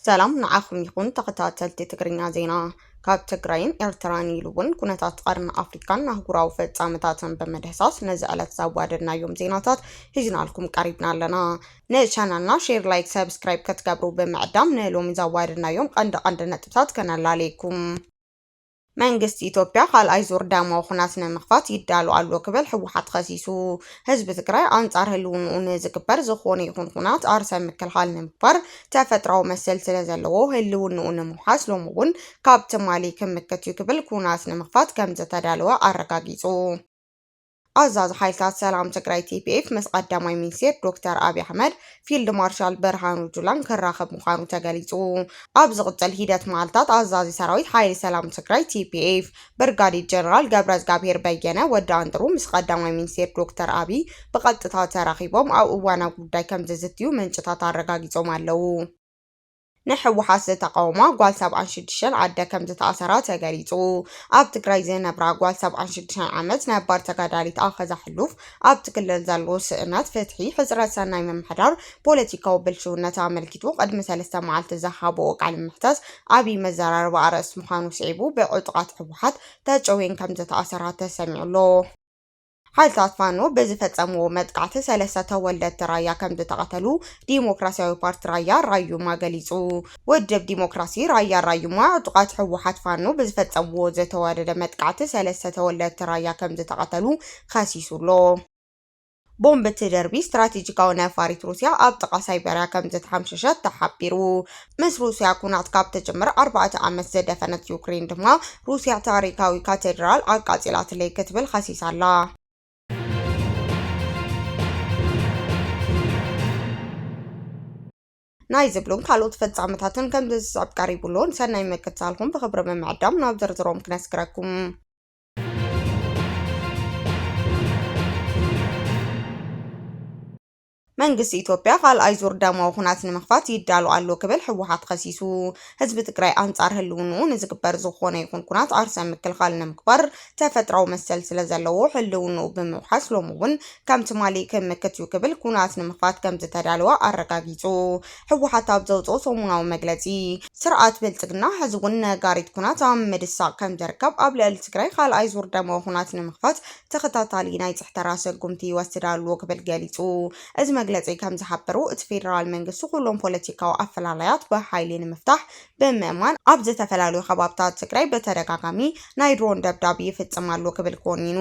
ሰላም ንዓኹም ይኹን ተኸታተልቲ ትግርኛ ዜና። ካብ ትግራይን ኤርትራን ኢሉ እውን ኩነታት ቀርኒ ኣፍሪካን ኣህጉራዊ ፍጻመታትን ብምድህሳስ ነዚ ዕለት ዘዋደድናዮም ዜናታት ሒዝናልኩም ቀሪብና ኣለና። ንቻናልና ሼር፣ ላይክ፣ ሰብስክራይብ ከትገብሩ ብምዕዳም ንሎሚ ዘዋደድናዮም ቀንዲ ቀንዲ ነጥብታት ከነላልየኩም። መንግስቲ ኢትዮጵያ ካልኣይ ዙር ደማዊ ኹናት ንምኽፋት ይዳሎ ኣሎ ክብል ህወሓት ኸሲሱ። ህዝቢ ትግራይ ኣንፃር ህልውንኡ ንዝግበር ዝኾነ ይኹን ኹናት ኣርሰ ምክልኻል ንምግባር ተፈጥራዊ መሰል ስለዘለዎ ህልውንኡ ንምውሓስ ሎሚ እውን ካብ ትማሊ ክምክት እዩ ክብል ኩናት ንምኽፋት ከምዘተዳለወ ኣረጋጊፁ። ኣዛዚ ሓይልታት ሰላም ትግራይ፣ ቲፒኤፍ፣ ምስ ቀዳማይ ሚኒስቴር ዶክተር ኣብዪ ኣሕመድ፣ ፊልድ ማርሻል ብርሃኑ ጁላን ክራኸብ ምዃኑ ተገሊፁ። ኣብ ዝቕፅል ሂደት መዓልታት ኣዛዚ ሰራዊት ሓይሊ ሰላም ትግራይ፣ ቲፒኤፍ፣ ብርጋዴር ጀነራል ገብረዝጋብሄር በየነ፣ ወዲ ኣንጥሩ፣ ምስ ቀዳማይ ሚኒስቴር ዶክተር ኣብዪ ብቐጥታ ተራኺቦም ኣብ እዋናዊ ጉዳይ ከምዝዝትዩ ምንጭታት ኣረጋጊፆም ኣለው። ንሕወሓት ዝተቓወማ ጓል ሰብዓን ሽዱሽተን ኣደ ከምዝተኣሰራ ተገሊፁ። ኣብ ትግራይ ዝነብራ ጓል ሰብዓን ሽዱሽተን ዓመት ነባር ተጋዳሊት ኣኸዛ ሕሉፍ ኣብቲ ክልል ዘሎ ስእነት ፍትሒ፣ ሕፅረት ሰናይ ምምሕዳር፣ ፖለቲካዊ ብልሽውነት ኣመልኪቱ ቕድሚ ሰለስተ መዓልቲ ዝሃበኦ ቃለ መሕተት ዓብዪ መዘራረቢ ኣርእስቲ ምዃኑ ስዒቡ ብዕጡቓት ሕወሓት ተጨውየን ከምዝተኣሰራ ተሰሚዑ ኣሎ። ሓይልታት ፋኖ ብዝፈፀምዎ መጥቃዕቲ ሰለስተ ተወለድቲ ራያ ከምዝተቐተሉ ዲሞክራሲያዊ ፓርቲ ራያ ራዩማ ገሊፁ። ውድብ ዲሞክራሲ ራያ ራዩማ ዕጡቓት ህወሓት ፋኖ ብዝፈፀምዎ ዝተዋደደ መጥቃዕቲ ሰለስተ ተወለድቲ ራያ ከምዝተቐተሉ ኸሲሱ ኣሎ። ቦምብ እትድርቢ ስትራቴጂካዊ ነፋሪት ሩስያ ኣብ ጥቓ ሳይበርያ ከምዝተሓምሸሸት ተሓቢሩ። ምስ ሩስያ ኵናት ካብ ትጅምር ኣርባዕተ ዓመት ዝደፈነት ዩክረይን ድማ፣ ሩስያ ታሪኻዊ ካተድራል ኣቃጺላትለይ ክትብል ኸሲሳ ኣላ። ናይ ዝብሉን ካልኦት ፍጻመታትን ከምዚ ዝስዕብ ቀሪቡ ኣሎ። ንሰናይ ምክትታልኩም ብኽብሪ ብምዕዳም ናብ ዝርዝሮም ክነስግረኩም። መንግስቲ ኢትዮጵያ ካልኣይ ዙር ደማዊ ኹናት ንምኽፋት ይዳሎ ኣሎ ክብል ህወሓት ኸሲሱ። ህዝቢ ትግራይ ኣንፃር ህልውንኡ ንዝግበር ዝኾነ ይኹን ኩናት ዓርሰ ምክልኻል ንምግባር ተፈጥራዊ መሰል ስለዘለዎ ህልውንኡ ብምውሓስ ሎሚ እውን ከም ትማሊ ክምክት እዩ ክብል ኩናት ንምኽፋት ከምዝተዳለወ ኣረጋጊፁ። ህወሓት ኣብ ዘውፅኦ ሰሙናዊ መግለፂ፣ ስርዓት ብልፅግና ሕዚ እውን ነጋሪት ኩናት ኣብ ምድሳቕ ከምዝርከብ፣ ኣብ ልዕሊ ትግራይ ካልኣይ ዙር ደማዊ ኹናት ንምኽፋት ተኸታታሊ ናይ ፅሕተራ ሰጉምቲ ይወስድ ኣሎ ክብል ገሊፁ። እዚ መግለፂ ከም ዝሓበሮ እቲ ፌዴራል መንግስቲ ኩሎም ፖለቲካዊ ኣፈላላያት ብሓይሊ ንምፍታሕ ብምእማን ኣብ ዝተፈላለዩ ከባብታት ትግራይ ብተደጋጋሚ ናይ ድሮን ደብዳብ ይፍፅም ኣሎ ክብል ኮኒኑ።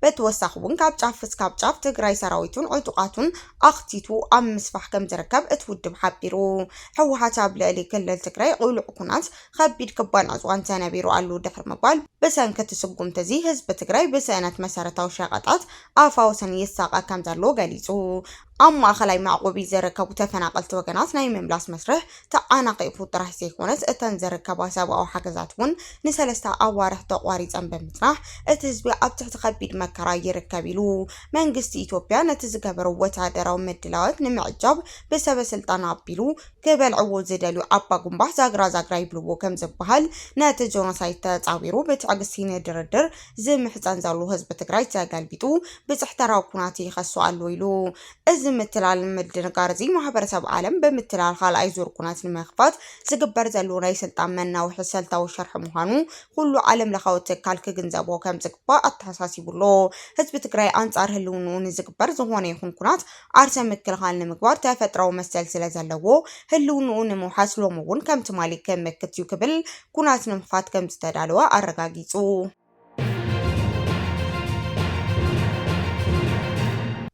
በተወሳኺ እውን ካብ ጫፍ እስካብ ጫፍ ትግራይ ሰራዊቱን ዕጡቓቱን ኣኽቲቱ ኣብ ምስፋሕ ከም ዝርከብ እቲ ውድብ ሓቢሩ። ህወሓት ኣብ ልዕሊ ክልል ትግራይ ቕሉዕ ኩናት ኸቢድ ክባን ዕፅዋን ተነቢሩ ኣሉ ድሕሪ ምባል፣ ብሰንኪ እቲ ስጉምቲ እዚ ህዝቢ ትግራይ ብስእነት መሰረታዊ ሸቐጣት ኣፋውስን ይሳቐ ከምዘሎ ገሊፁ። ኣብ ማእኸላይ መዕቖቢ ዝርከቡ ተፈናቐልቲ ወገናት ናይ ምምላስ መስርሕ ተዓናቒፉ ጥራሕ ዘይኮነስ እተን ዝርከባ ሰብኣዊ ሓገዛት እውን ንሰለስተ ኣዋርሕ ተቋሪፀን ብምፅናሕ እቲ ህዝቢ ኣብ ትሕቲ ኸቢድ መከራ ይርከብ ኢሉ። መንግስቲ ኢትዮጵያ ነቲ ዝገበሮ ወታደራዊ ምድላዋት ንምዕጃብ ብሰበ ስልጣን ኣቢሉ ክበልዕዎ ዝደልዩ ኣባ ጉምባ ዛግራ ዛግራ ይብልዎ ከም ዝበሃል ነቲ ጆኖሳይድ ተፃዊሩ ብትዕግስቲ ንድርድር ዝምሕፀን ዘሎ ህዝቢ ትግራይ ተገልቢጡ ብፅሕተራዊ ኩናት ይኸሶ ኣሎ ኢሉ። እዚ ምትላልን ምድንጋር እዚ ማህበረሰብ ዓለም ብምትላል ኻልኣይ ዙር ኩናት ንምኽፋት ዝግበር ዘሎ ናይ ስልጣን መናውሒ ሰልታዊ ሽርሒ ምዃኑ ኹሉ ዓለም ለኻዊ ትካል ክግንዘቦ ከም ዝግባእ ኣተሓሳሲቡ ኣሎ። ህዝቢ ትግራይ ኣንፃር ህልውንኡ ንዝግበር ዝኾነ ይኹን ኩናት ዓርሰ ምክልኻል ንምግባር ተፈጥራዊ መሰል ስለ ዘለዎ፣ ህልውንኡ ንምውሓስ ሎሚ እውን ከም ትማሊ ክምክት እዩ ክብል ኩናት ንምኽፋት ከም ዝተዳለወ ኣረጋጊጹ።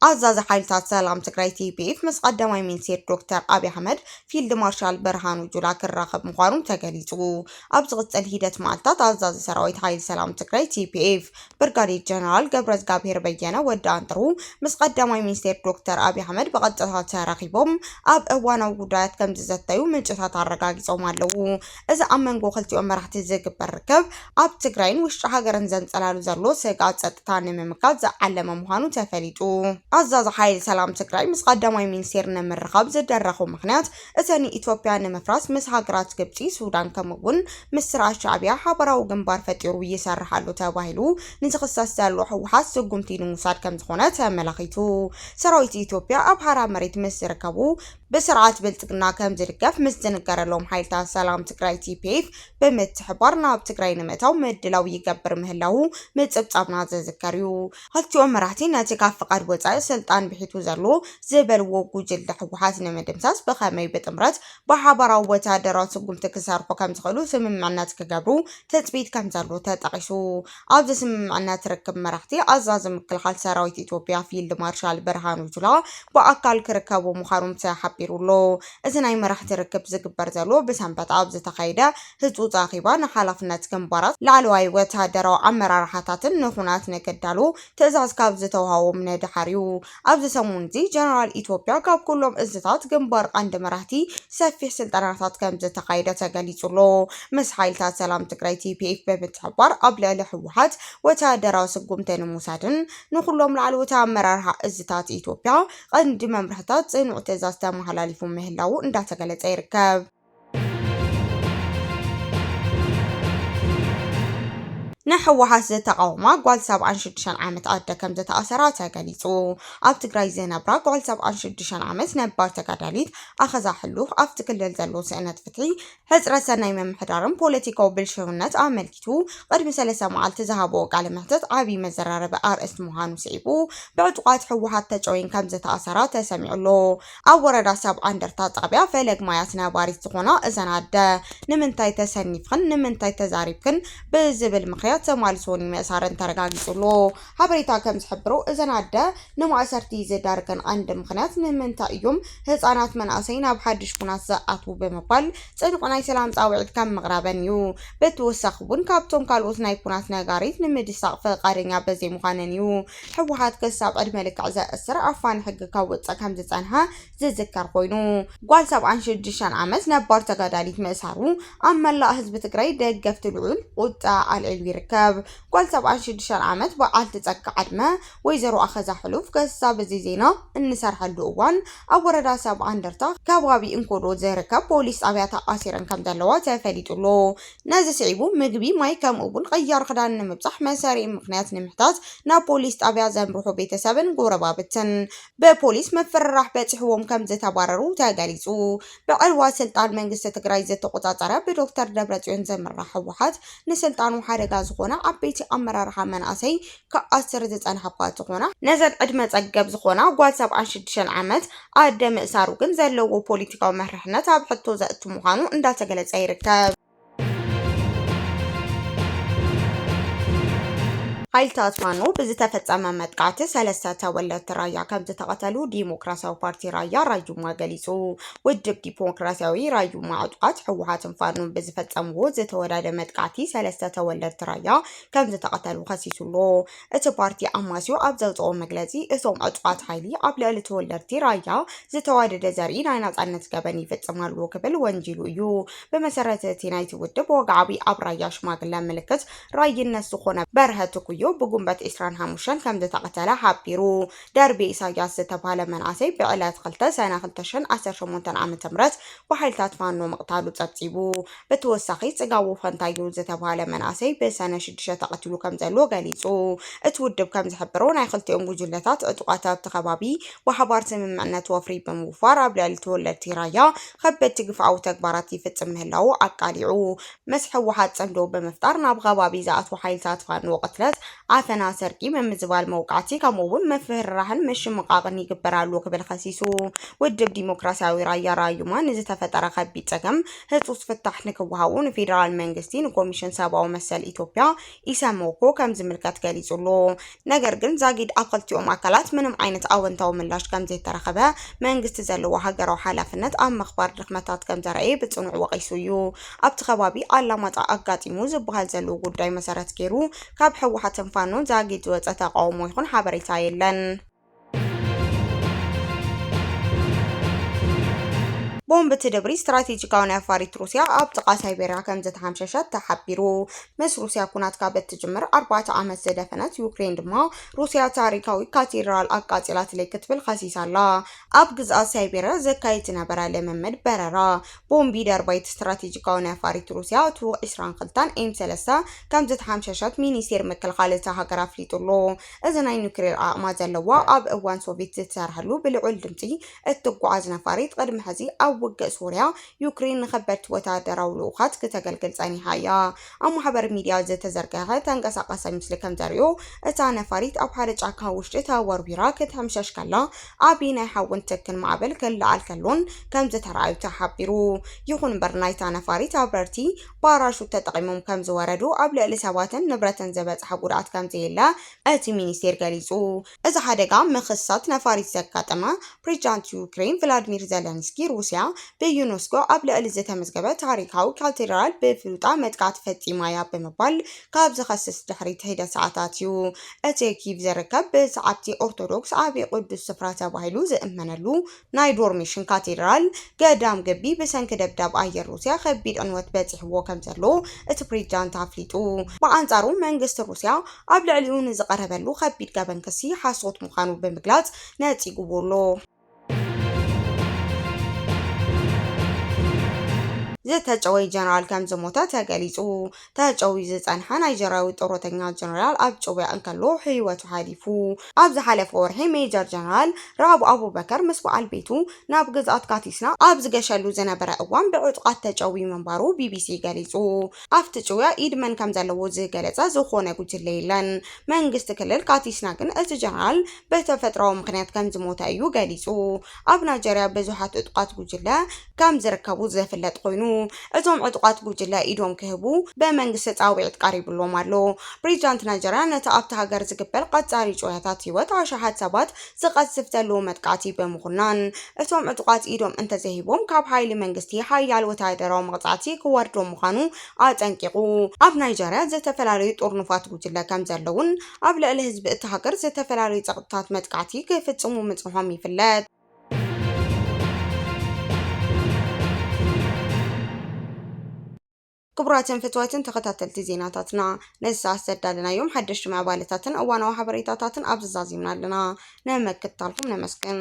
ኣዛዚ ሓይልታት ሰላም ትግራይ ቲፒኤፍ ምስ ቀዳማይ ሚኒስቴር ዶክተር ኣብይ ኣሕመድ ፊልድ ማርሻል ብርሃኑ ጁላ ክራኸብ ምዃኑ ተገሊፁ። ኣብ ዝቕፅል ሂደት መዓልታት ኣዛዚ ሰራዊት ሓይሊ ሰላም ትግራይ ቲፒኤፍ ብርጋዴር ጀነራል ገብረዝጋብሄር በየነ፣ ወዲ ኣንጥሩ፣ ምስ ቀዳማይ ሚኒስቴር ዶክተር ኣብይ ኣሕመድ ብቐጥታ ተራኺቦም ኣብ እዋናዊ ጉዳያት ከምዝዘተዩ ምንጭታት ኣረጋጊፆም ኣለው። እዚ ኣብ መንጎ ክልቲኦም መራሕቲ ዝግበር ርክብ ኣብ ትግራይን ውሽጢ ሃገርን ዘንፀላሉ ዘሎ ስግኣት ፀጥታ ንምምካት ዝዓለመ ምዃኑ ተፈሊጡ። ኣዛዚ ሓይሊ ሰላም ትግራይ ምስ ቀዳማይ ሚኒስቴር ንምርኻብ ዝደረኹ ምኽንያት እዚ ንኢትዮጵያ ንምፍራስ ምስ ሃገራት ግብጺ፣ ሱዳን ከምኡ'ውን ምስ ስርዓት ሻዕብያ ሓባራዊ ግንባር ፈጢሩ ይሰርሕ ኣሎ ተባሂሉ ንዝኽሰስ ዘሎ ህወሓት ስጉምቲ ንምውሳድ ከምዝኾነ ተመላኺቱ። ሰራዊት ኢትዮጵያ ኣብ ሓራ መሬት ምስ ዝርከቡ ብስርዓት ብልጽግና ከምዝድገፍ ምስ ዝንገረሎም ሓይልታት ሰላም ትግራይ፣ TPF፣ ብምትሕብባር ናብ ትግራይ ንምእታው ምድላው ይገብር ምህላዉ ምጽብጻብና ዝዝከር'ዩ። ኽልቲኦም መራሕቲ ነቲ ካብ ፍቓድ ወፃኢ ስልጣን ብሒቱ ዘሎ ዝበልዎ ጉጅለ ህወሓት ንምድምሳስ ብኸመይ ብጥምረት ብሓባራዊ ወታደራዊ ስጉምቲ ክሰርሑ ከምዝኽእሉ ስምምዕነት ክገብሩ ትፅቢት ከምዘሎ ተጠቒሱ። ኣብዚ ስምምዕነት ርክብ መራሕቲ ኣዛዚ ምክልኻል ሰራዊት ኢትዮጵያ ፊልድ ማርሻል ብርሃኑ ጁላ ብኣካል ክርከቡ ምዃኖም ተሓቢሩ ኣሎ። እዚ ናይ መራሕቲ ርክብ ዝግበር ዘሎ ብሰንበት ኣብ ዝተኻየደ ህጹጽ ኣኼባ ንሓላፍነት ግንባራት፣ ላዕለዋይ ወተሃደራዊ ኣመራርሓታትን ንኹናት ንክዳልዉ ትእዛዝ ካብ ዝተውሃቦም ንደሓር'ዩ። ኣብዚ ሰሙን'ዚ ጀነራል ኢትዮጵያ ካብ ኩሎም እዝታት ግንባር ቀንዲ መራሕቲ ሰፊሕ ስልጠናታት ከምዝተኻየደ ተገሊጹ'ሎ። ምስ ሓይልታት ሰላም ትግራይ፣ tpf፣ ብምትሕብባር ኣብ ልዕሊ ህወሓት ወተሃደራዊ ስጉምቲ ንምውሳድን ንኹሎም ላዕለዎት ኣመራርሓ እዝታት ኢትዮጵያ ቀንዲ መምርሕታት ጽኑዕ ትእዛዝ ተመሓላሊፉ ምህላዉ እንዳተገለጸ ይርከብ። ንህወሓት ዝተቓወማ ጓል ሰብዓን ሽዱሽተን ዓመት ኣደ ከም ዝተኣሰራ ተገሊጹ። ኣብ ትግራይ ዝነብራ ጓል ሰብዓን ሽዱሽተን ዓመት ነባር ተጋዳሊት ኣኸዛ ሕሉፍ ኣብቲ ክልል ዘሎ ስእነት ፍትሒ፣ ሕጽረት ሰናይ ምምሕዳርን ፖለቲካዊ ብልሽውነት ኣመልኪቱ ቅድሚ ሰለስተ መዓልቲ ዝሃብኦ ቃለ መሕትት ዓብዪ መዘራረቢ ኣርእስቲ ምዃኑ ስዒቡ ብዕጡቓት ህወሓት ተጨውየን ከም ዝተኣሰራ ተሰሚዑ ኣሎ። ኣብ ወረዳ ሰብዓ እንደርታ ጣብያ ፈለግ ማያት ነባሪት ዝኾና እዘን ኣደ ንምንታይ ተሰኒፍኽን ንምንታይ ተዛሪብክን ብዝብል ምኽንያት ተማልሶኒ ምእሳረን ተረጋጊፁ'ሎ። ሓበሬታ ከምዝሕብሮ እዘን ኣደ ንማእሰርቲ ዝዳርገን ቐንዲ ምኽንያት ንምንታይ እዩም ህፃናት መናእሰይ ናብ ሓዱሽ ኩናት ዝኣትዉ ብምባል ፅኑዕ ናይ ሰላም ፃውዒት ከም ምቕራበን እዩ። ብተወሳኺ እውን ካብቶም ካልኦት ናይ ኩናት ነጋሪት ንምድሳቕ ፍቓደኛ በዘይምዃነን እዩ። ህወሓት ክሳብ ዕድመ ልክዕ ዘእስር ኣፋኒ ሕጊ ከውፅእ ከምዝፀንሐ ዝዝከር ኮይኑ ጓል ሰብዓን ሽዱሽተን ዓመት ነባር ተጋዳሊት ምእሳሩ ኣብ መላእ ህዝቢ ትግራይ ደገፍቲ ልዑል ቁጥዐ ኣልዒሉ ይርከብ። ጓል ሰብዓን ሽዱሽተን ዓመት በዓልቲ ፀጋ ዕድመ ወይዘሮ ኣኸዛ ሕሉፍ ክሳብ እዚ ዜና እንሰርሐሉ እዋን ኣብ ወረዳ ሰብዓ እንደርታ ከባቢ እንኮሎ ዝርከብ ፖሊስ ጣብያ ተኣሲረን ከምዘለዋ ተፈሊጡ ኣሎ። ነዚ ስዒቡ ምግቢ፣ ማይ ከምኡ'ውን ቐያር ኽዳን ንምብጻሕ መሰሪ'ም ምኽንያት ንምሕታት ናብ ፖሊስ ጣብያ ዘምርሑ ቤተሰብን ጎረባብትን ብፖሊስ ምፍርራሕ በጺሕዎም ከምዝተባረሩ ተገሊጹ። ብዕልዋ ስልጣን መንግስቲ ትግራይ ዝተቖጻጸረ ብዶክተር ደብረጽዮን ዝምራሕ ህወሓት ንስልጣኑ ሓደጋ ዝኾነ ዓበይቲ ኣመራርሓ መናእሰይ ክኣስር ዝጸንሐ እኳ እንተኾነ፣ ነዘን ዕድመ ጸገብ ዝኾና ጓል ሰብዓን ሽዱሽተን ዓመት ኣደ ምእሳሩ ግን ዘለዎ ፖሊቲካዊ መርሕነት ኣብ ሕቶ ዘእቱ ምዃኑ እንዳተገለጸ ይርከብ። ሓይልታት ፋኖ ብዝተፈጸመ መጥቃዕቲ ሰለስተ ተወለድቲ ራያ ከምዝተቐተሉ ዲሞክራሲያዊ ፓርቲ ራያ ራዩማ ገሊጹ። ውድብ ዲሞክራሲያዊ ራዩማ ዕጡቓት ህወሓትን ፋኖን ብዝፈጸምዎ ዝተወዳደ መጥቃዕቲ ሰለስተ ተወለድቲ ራያ ከምዝተቐተሉ ከሲሱ ኣሎ። እቲ ፓርቲ ኣማስዮ ኣብ ዘውጽኦ መግለጺ፣ እቶም ዕጡቓት ሓይሊ ኣብ ልዕሊ ተወለድቲ ራያ ዝተዋደደ ዘርኢ ናይ ናጻነት ገበን ይፍጽም ኣሎ ክብል ወንጂሉ እዩ። ብመሰረት እቲ ናይቲ ውድብ ወግዓዊ ኣብ ራያ ሽማግለ ምልክት ራይነት ዝኾነ በርሀ ትኩዮ ብጉንበት ዕስራን ሓሙሽተን ከምዝተቐተለ ሓቢሩ። ደርቢ ኢሳያስ ዝተብሃለ መንእሰይ ብዕለት ክልተ ሰነ ክልተ ሽሕን ዓሰርተ ሸሞንተን ዓመተ ምህረት ብሓይልታት ፋኖ ምቕታሉ ጸብጺቡ። ብትወሳኺ ፅጋቡ ፈንታዩ ዝተብሃለ መንኣሰይ ብሰነ ሽዱሽተ ተቐቲሉ ከምዘሎ ገሊፁ። እቲ ውድብ ከምዝሕብሮ ናይ ክልቲኦም ጉጅለታት ዕጡቓት ኣብቲ ከባቢ ብሓባር ስምምዕነት ወፍሪ ብምውፋር ኣብ ልዕሊ ተወለድቲ ራያ ከበድቲ ግፍዓዊ ተግባራት ይፍፅም ምህላዉ ኣቃሊዑ። ምስ ህወሓት ፅምዶ ብምፍጣር ናብ ኸባቢ ዝኣትዉ ሓይልታት ፋኖ ቅትለት፣ ዓፈና፣ ስርቂ፣ ምምዝባል፣ መውቃዕቲ ከምኡ እውን ምፍርራህን ምሽምቓቕን ይግበር ኣሎ ክብል ኸሲሱ። ውድብ ዲሞክራሲያዊ ራያ ራዩማ ንዝተፈጠረ ኸቢድ ፀገም ህፁፅ ፍታሕ ንክወሃቡ ንፌዴራል መንግስቲ ንኮሚሽን ሰብኣዊ መሰል ኢትዮጵያ ኢሰመኮ ከምዝምልከት ገሊፁሉ ነገር ግን ዛጊድ ኣብ ኽልቲኦም ኣካላት ምንም ዓይነት ኣወንታዊ ምላሽ ከምዘይተረኸበ መንግስቲ ዘለዎ ሃገራዊ ሓላፍነት ኣብ ምኽባር ድኽመታት ከምዘርኣየ ብፅኑዕ ወቒሱ እዩ። ኣብቲ ከባቢ ኣላማጣ ኣጋጢሙ ዝበሃል ዘሎ ጉዳይ መሰረት ገይሩ ካብ ህወሓትን ፋኖን ዛጊድ ዝወፀ ተቓውሞ ይኹን ሓበሬታ የለን። ቦምብ ትድብሪ ስትራቴጂካዊ ነፋሪት ሩስያ ኣብ ጥቓ ሳይቤርያ ከም ዝተሓምሸሸት ተሓቢሩ። ምስ ሩስያ ኩናት ካብ እትጅምር ኣርባዕተ ዓመት ዝደፈነት ዩክሬን ድማ ሩስያ ታሪካዊ ካቴድራል ኣቃጺላትለይ ክትብል ከሲሳ ኣላ። ኣብ ግዝኣት ሳይቤርያ ዘካይድ ዝነበረ ልምምድ በረራ ቦምብ ደርባይት ስትራቴጂካዊ ነፋሪት ሩስያ ቱክ 22 ኤም 3 ከም ዝተሓምሸሸት ሚኒስቴር ምክልኻል እታ ሃገር ኣፍሊጡ ኣሎ። እዚ ናይ ኑክሌር ዓቕማ ዘለዋ ኣብ እዋን ሶቪት ዝትሰርሐሉ ብልዑል ድምጺ እትጓዓዝ ነፋሪት ቕድሚ ሕዚ ኣብ ውግእ ሶርያ ዩክሬን ንከበድቲ ወተሃደራዊ ልኡኻት ክተገልግል ጸኒሓ እያ። ኣብ ማሕበር ሚድያ ዝተዘርገሐ ተንቀሳቓሳይ ምስሊ ከምዘርእዮ እታ ነፋሪት ኣብ ሓደ ጫካ ውሽጢ ተወርዊራ ክትሕምሸሽ ከላ ዓቢ ናይ ሓውን ትክን ማዕበል ክለዓል ከሎን ከምዝተራኣዩ ተሓቢሩ። ይኹን እምበር ናይታ ነፋሪት ኣብረርቲ ፓራሹት ተጠቒሞም ከምዝወረዱ ኣብ ልዕሊ ሰባትን ንብረትን ዝበፅሐ ጉድኣት ከምዘየለ እቲ ሚኒስቴር ገሊፁ። እዚ ሓደጋ ምኽሳት ነፋሪት ዘጋጠመ ፕሬዚዳንት ዩክሬን ቭላድሚር ዘለንስኪ ሩሲያ ብዩኔስኮ ኣብ ልዕሊ ዝተመዝገበ ታሪኻዊ ካቴድራል ብፍሉጣ መጥቃዕቲ ፈፂማ እያ ብምባል ካብ ዝኸስስ ድሕሪ ሒደት ሰዓታት እዩ። እቲ ኪቭ ዝርከብ ብሰዓብቲ ኦርቶዶክስ ዓብዪ ቅዱስ ስፍራ ተባሂሉ ዝእመነሉ ናይ ዶርሚሽን ካቴድራል ገዳም ግቢ ብሰንኪ ደብዳብ ኣየር ሩስያ ከቢድ ዕንወት በጺሕዎ ከምዘሎ እቲ ፕሬዚዳንት ኣፍሊጡ። ብኣንጻሩ መንግስቲ ሩስያ ኣብ ልዕሊኡ ንዝቐረበሉ ከቢድ ገበን ክሲ ሓሶት ምዃኑ ብምግላጽ ነጺጉዎ ኣሎ። ዝተጨወየ ጀነራል ከምዝሞተ ተገሊጹ። ተጨውዩ ዝጸንሐ ናይጀርያዊ ጥሮተኛ ጀነራል ኣብ ጭውያ እንከሎ ህይወቱ ሓሊፉ። ኣብ ዝሓለፈ ወርሒ ሜጀር ጀነራል ራኣብ ኣቡበከር ምስ በዓል ቤቱ ናብ ግዝኣት ካቲስና ኣብ ዝገሸሉ ዝነበረ እዋን ብዕጡቓት ተጨውዩ ምንባሩ ቢቢሲ ገሊጹ። ኣብቲ ጭውያ ኢድ መን ከምዘለዎ ዝገለጸ ዝኾነ ጉጅለ የለን። መንግስቲ ክልል ካቲስና ግን እቲ ጀነራል ብተፈጥሮኣዊ ምኽንያት ከምዝሞተ እዩ ገሊጹ። ኣብ ናይጀርያ ብዙሓት ዕጡቓት ጉጅለ፣ ከም ዝርከቡ ዘፍለጥ ኮይኑ እቶም ዕጡቓት ጉጅለ ኢዶም ክህቡ ብመንግስቲ ጻውዒት ቀሪብሎም ኣሎ። ፕሬዚዳንት ናይጀርያ ነቲ ኣብታ ሃገር ዝግበር ቐጻሪ ጩረታት ህይወት ኣሽሓት ሰባት ዝቐዝፍ ዘሎ መጥቃዕቲ ብምኹናን እቶም ዕጡቓት ኢዶም እንተዘይሂቦም ካብ ሓይሊ መንግስቲ ሓያል ወተሃደራዊ መቕጻዕቲ ክወርዶም ምዃኑ ኣጠንቂቑ። ኣብ ናይጀርያ ዝተፈላለዩ ጥርኑፋት ጉጅለ ከም ዘለዉን ኣብ ልዕሊ ህዝቢ እታ ሃገር ዝተፈላለዩ ጸቕጥታት መጥቃዕቲ ክፍጽሙ ምጽንሖም ይፍለጥ። ክቡራትን ፍትዋትን ተኸታተልቲ ዜናታትና ነዚ ሰዓት ዘዳለናዮም ሓደሽቲ ምዕባለታትን እዋናዊ ሓበሬታታትን ኣብዚ ዛዚምና ኣለና ንምክትታልኩም ነመስግን